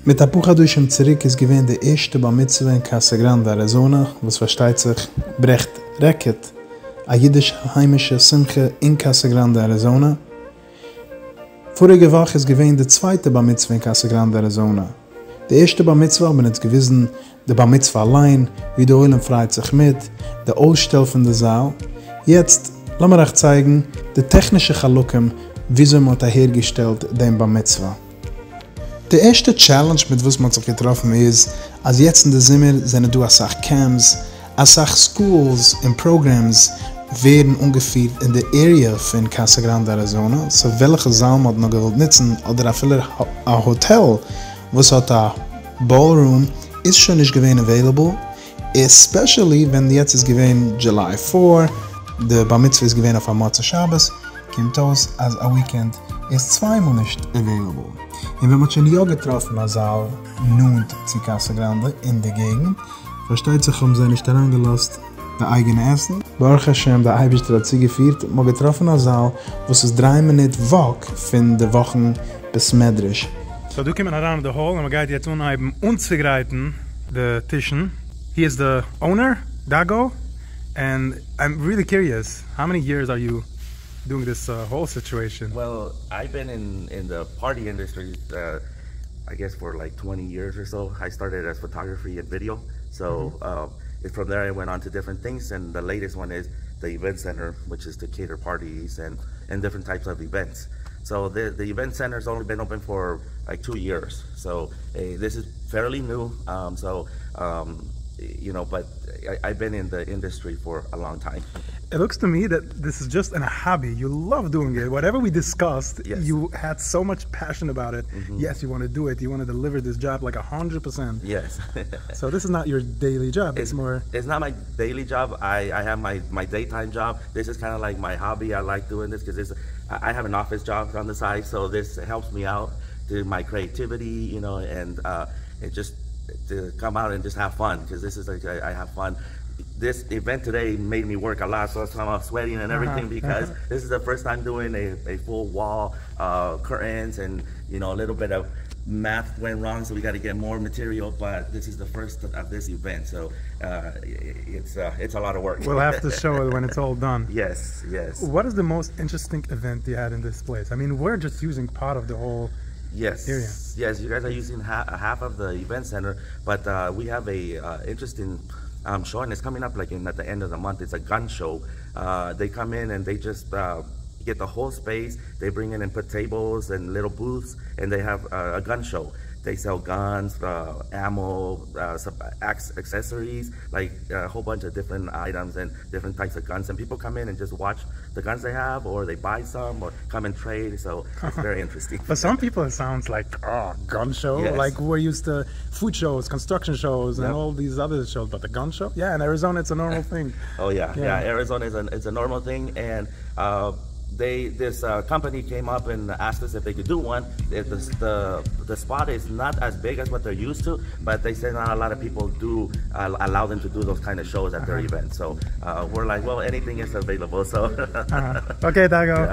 מיט א פאר חדשים צוריק איז געווען די ערשטע בר מצוה אין קאסא גראנדע אריזאנע, וואס פארשטייט זיך ברעכט רעקארד, א אידישע היימישע שמחה אין קאסא גראנדע אריזאנע. פאריגע וואך איז געווען די צווייטע בר מצוה אין קאסא גראנדע אריזאנע. די ערשטע בר מצוה האט מען אונז געוויזן די בר מצוה אליין, ווי די עולם פרייט זיך מיט, די אויסשטעל פון די זאל, יעצט לאמיר אייך צייגן די טעכנישע חלקים וויאזוי מען האט אהער געשטעלט דעם בר מצוה. די ערשטע טשעלענדזש מיט וואס מען האט זיך געטראפן איז אז יעצט אין די זומער זענען דא אסאך קעמפס, אסאך סקולס און פראגרעמס ווערן אנגעפירט אין די עריע פון קאסא גראנדע אריזאנע, סאו וועלכע זאל מען האט נאר געוואלט נוצן אדער אפילו א האטעל וואס האט א. באלרום איז שוין נישט געווען עוועילעבל, עספעשעלי ווען יעצט איז געווען דזשוליי פאר, די בר מצוה איז געווען אויף א מוצאי שבת, קומט אויס אז א וויקענד איז צוויי מאל נישט עוועילעבל, און ווען מ'האט שוין יא געטראפן א זאל נאנט צו קאסא גראנדע אין די געגנט, פארשטייט זיך האבן זיי נישט אריינגעלאזט די אייגענע עסן. ברוך השם די אייבערשטער האט צוגעפירט מען האט געטראפן א זאל וואס איז דריי מינוט וואק פון די וואכן בית מדרש. סאו דא קומט מען אריין אין די האל און מען גייט יעצט אנהייבן אנצוגרייטן די טישן, הי איז די אונער, דאגאו, ענד איים ריעלי קיריעס האו מעני יערס אר יו דואינג דיס האול סיטועישן? Well, I've been in in the party industry I guess for like twenty years or so, I started as photography and video, so און פראם דער איי ווענט אן טו דיפרענט טינגס און די לעיטעסט וואן איז די איווענט סענטער וויטש איז טו קעיטער פארטיס און און דיפרענט טייפס אוו איווענטס סאו די די איווענט סענטער איז אנלי בען אפען פאר לייק טו יערס סאו דיס איז פעירלי ניו סאו יו נאו באט איי בען אין די אינדעסטרי פאר א לאנג טיים. איט לוקס טו מי דעט דיס איז דזשאסט ען האבי יו לאוו דואינג איט וואטעווער ווי דיסקאסד יו העד סאו מאטש פעשען אבאוט איט יעס יו וואנט טו דו איט יו וואנט טו דעליווער דיס דזשאב לייק א האנדרעט פערסענט. סאו דיס איז נאט יור דעילי דזשאב, איטס מאר. איטס נאט מיי דעילי דזשאב, איי העוו מיי דעי טיים דזשאב, דיס איז קינדע לייק מיי האבי, איי לייק דואינג דיס קאוז איי העוו ען אפיס דזשאב אן די סייד, סאו דיס העלפס מי אוט טו מיי קריעטיוויטי יו נאו, און דזשאסט טו קאם אוט און דזשאסט העוו פאן, קאוז דיס איז לייק איי העוו פאן, דיס איווענט טודעי מעיד מי ווארק א לאט, סאו קאם אוט סוועטינג און עוועריטינג, ביקאוז דיס איז די פירסט טיים דואינג עי פול וואל. קוראנס און יו נאו ליטעל ביט אוו מעט ווענט ראנג סאו ווי גאטע געט מאר מאטעריעל באט דיס איז די פירסט אוו דיס איווענט סאו איטס א לאט אוו ווארק. וויל העוו טו שאו איט ווען איטס אלל דאן. יעס יעס. וואט איז די מאוסט אינטרעסטינג איווענט יו העד אין דיס פלעיס? איי מין וויר דזשאסט יוזינג פארט אוו די האול עיריע. יעס יו גייס אר יוזינג האלף אוו די איווענט סענטער באט ווי העוו עי אינטרעסטינג שאו און איטס קאמינג אפ אין עט די ענד אוו די מאנט איטס א גאן שאו. דעי קאם אין און דעי דזשאסט גיט די האול ספעיס, דעי ברענגען אין פאר טעיבלס און ליטעל בוט'ס, און דעי העוו א גאן שאו, דעי סעל גאנס, עמא, סאב עקסעסעריס, לייק א האול באנטש אוו דיפרענט אייטעמס און דיפרענט טייפס אוו גאנס, און פיפל קאם אין און דזשאסט וואטש די גאנס דעי העוו, אר דעי ביי סאם, אר קאם אין טרעיד, סאו. ווערי אינטערעסטינג. פאר סאם פיפל איט סאונדס לייק אה גאן שאו לייק וואו אר יוזד טא פוד שאוס קאנסטראקשען שאוס און אלל דיס אדער שאוס באט א גאן שאו יא אין אריזאנע איטס א נארמאל טינג. אוי יא יא אין אריזאנע איטס א נארמאל טינג אין דעי דיס קאמפאני קעים אפ אין אסקט אס איף דעי קען דא וואן די ספאט איז נאט עס ביג עס וואט דער יוזד טא באט דעי סעי נאט א לאט אף פיפל דא אלאו דעם טא דא דאס קיינע שאוס עט דער איווענט סאו ווער לייק וועל עניטינג איז אוועילעבל סאו. אקעי דאגה.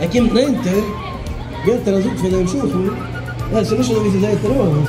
ער קומט נענטער, געט ער א זאג פון דעם שכן, נע, ס'איז נישט אזוי ווי ס'זעט דיר אויס.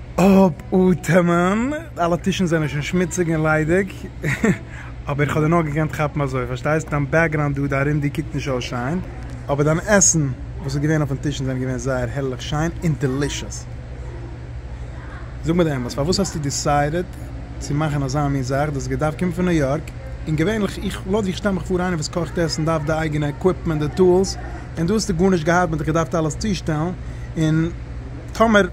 אפאטעמען, אלע טישן זענען שוין שמוציג און ליידיג, אבער איך האב דיר נאר געקענט כאפן אזוי, פארשטייסט? דיין בעקגראונד דא, די ארום דיר קוקט נישט אויס שיין, אבער דיין עסן וואס איז געווען אויפן טישן זענען געווען זייער הערליך שיין און דעלישעס. זאג מיר די אמת, פארוואס האסטו דיסיידעט צו מאכן אזא מין זאך? דאס האט געדארפט קומען פון ניו יארק, און געווענליך, איך, לויט ווי איך שטעל מיך פאר, איינער וואס קאכט עסן דארף די אייגענע עקוויפמענט, די טולס, און דא האסטו גארנישט געהאט, מען האט דיך געדארפט אלעס צושטעלן, און טאמער.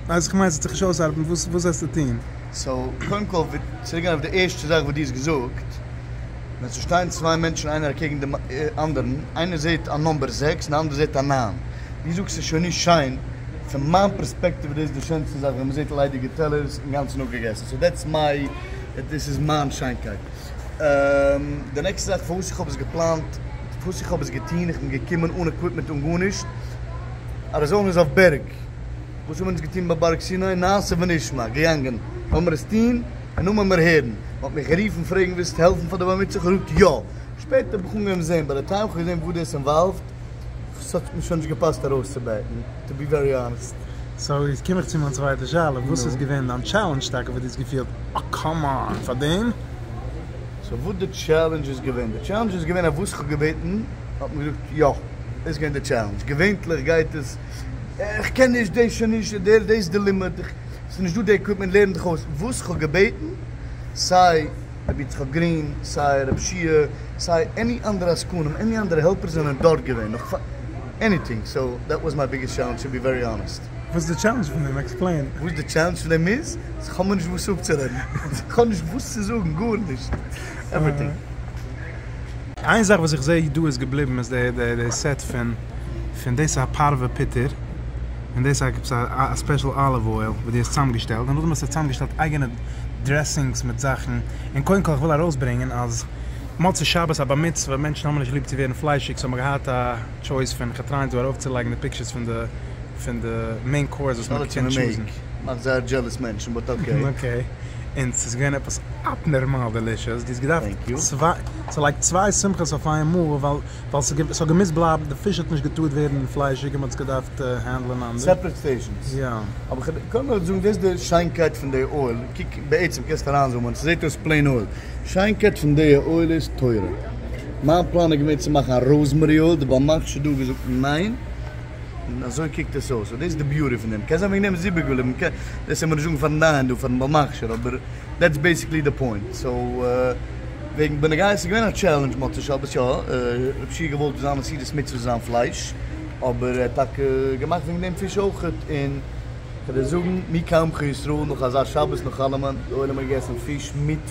אז איך מיין ס'וועט זיך נישט אויסארבעטן וואס וואס וועסטו טוהן? סאו קודם כל צוריק גיין אויף די ערשטע זאך וואס דו האסט געזאגט, ווען ס'שטייען צוויי מענטשן איינער אקעגן דעם אנדערן, איינער זעהט א נאמבער זעקס און די אנדערע זעהט א נײַן, ווי זאגסט ס'איז שוין נישט שיין, פון מיין פערספעקטיוו איז דאס די שענסטע זאך ווען מ'זעהט ליידיגע טעלערס אינגאנצן אפגעגעסן, סאו דעטס מיי, דאס איז מיין שיינקייט. די נעקסטע זאך פארוואס איך האב עס געפלאנט, פארוואס איך האב עס געטוהן, איך בין געקומען אן עקוויפמענט אן גארנישט, אריזאנע איז אויף בערג, וואס האבן אונז געטון ביי בארג סיני? נעשה ונשמע, געגאנגען, לאמיר עס טון און נו מעמער הערן. מען האט מיך גערופן פרעגן ווילסט העלפן פאר די בר מצוה? כ'געזאגט יא. שפעטער האב איך אנגעהויבן זען ביי די טעם, כ'האב געזען וואס דאס אינוואלווד, ס'האט מיר שוין נישט געפאסט ארויסצובעטן, טו בי ווערי האנעסט. סאו יעצט קום איך צו מיין צווייטע שאלה, וואס איז געווען דיין טשעלענדזש טאקע וואס דו האסט געפילט אה קאמאן פאר דעם? סאו וואס די טשעלענדזש איז געווען? די טשעלענדזש איז געווען אז וואס כ'האב געבעטן האט מען געזאגט יא, דאס איז געווען די טשעלענדזש, געווענטליך גייט עס. איך קען נישט דעי שוין נישט דער דעי איז די לימוד ס'איז נישט דא די עקוויפמענט לערן דיך אויס וואס כ'האב געבעטן סיי רבי יצחק גרין סיי רב שיע סיי עני אנדערע עסקנים עני אנדערע העלפערס זענען דארט געווען נאך פאר עניטינג סאו דעט וואס מיי ביגעסט טשעלענדזש טו בי ווערי האנעסט. וואס איז די טשעלענדזש פון דעם? עקספלעין. וואס די טשעלענדזש פון דעם איז? אז כ'האב מיר נישט וואס אפצורעדן. כ'האב נישט וואס צו זאגן. גארנישט. עווריטינג. איין זאך וואס איך זע דא איז געבליבן איז די סעט פון פון דאס איז א פארווע פוטער און דאס איז א ספעשל אליוו אויל וואס דו האסט צוזאמגעשטעלט און נאכדעם האסטו צוזאמגעשטעלט אייגענע דרעסינגס מיט זאכן און קודם כל איך וויל ארויסברענגען אז מוצאי שבת א בר מצוה מענטשן האבן נישט ליב צו ווערן פליישיג סאו מ'האט געהאט א טשויס פון איך טריי דא ארויפצולייגן די פיקטשערס פון די פון די מעין קאורס וואס מ'קען טשוזן. מאכט זייער דזשעלעס מענטשן באט אקעי. און ס'איז געווען עפעס אבנערמאל דעלישעס, דו האסט געדארפט צעלייגט צוויי שמחות אויף איין מאל, ווייל ס'האט געמוזט בלייבן, די פיש האט נישט געטארט ווערן פליישיג און מ'האט עס געדארפט הענדלען אנדערש. סעפערעט פארשענס. יא. אבער כ'קען נאר זאגן דאס איז די שיינקייט פון די אויל, קוק בעצם קענסט אריינזומען, ס'זעט אויס פלעין אויל, שיינקייט פון די אויל איז תורה, מיין פלאן איז געווען צו מאכן א ראזמערי אויל, די באמערקסט שוין דא געזאגט ניין. און אזוי קוקט עס אויס, און דאס איז די ביורא פון דעם, קען זיין וועגן דעם איז איבער געבליבן, מ'קען דאס העמיר נישט זאגן פארן דיין דא פארן בעל מכשיר, אבער דעטס בעיסיקלי די פוינט, סאו וועגן בן גיא עס איז געווען א טשעלענדזש מוצאי שבת יא, רב שיע האט געוואלט זיין מסירת מצוה און זיין פלייש, אבער ער האט טאקע געמאכט וועגן דעם פיש אויך, און כ'וועל דיר זאגן מי כעמך ישראל נאך אזא שבת נאך אלעמען, די עולם האט געגעסן פיש מיט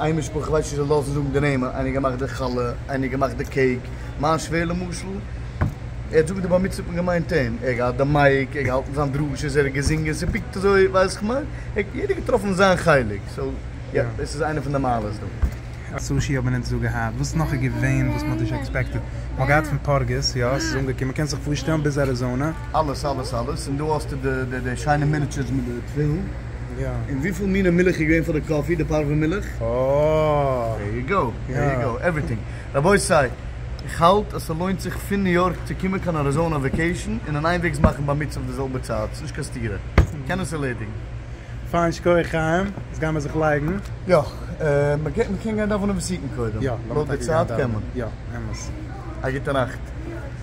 איין משפחה, איך ווייס נישט זיי לאזן זאגן די נעמען, איינער האט געמאכט די חלה, איינער האט געמאכט די קעיק, מיין שווער למשל, ער האט זאגן די בר מצוה האט מען געמיינט אים, ער האט געהאט די מייק, ער האט געהאלטן זיין דרשות, ער האט געזינגען, ס'פיקט אזוי, ווייסט איך מיין, יעדער האט געטראפן זיין חלק, סאו יא, דאס איז איינע פון די מעלות דא. א סושי האבן אונז דא געהאט, וואס נאך איז געווען וואס מ'האט נישט עקספעקטעד? מ'האט געהאט פון פארגעס, יא, ס'איז אנגעקומען, קענסט זיך פארשטעלן ביז אריזאנע? אלעס אלעס אלעס, און דא האסטו די די שיינע מיניטשערס מיט די תפילין. יא. און וויפיל מיני מילך איז געווען פאר די קאפי, די פארווע מילך? אוה. דער יו גאו, דער יו גאו, עווריטינג. רבותי, איך האלט אז ס'לוינט זיך פון ניו יארק צו קומען קיין אריזאנא וועקעישן און אן איינוועגס מאכן בר מצוה אויף די זעלבע צייט, ס'נישט קיין סתירה. קען עס ערלעדיגן. פיין שכוח חיים, יעצט גיימער זיך לייגן. יא. מ'קען מ'קען גיין דאווענען וסיטן קודם. יא. לויט די צייט קען מען. יא. אמת. א גוטע נאכט.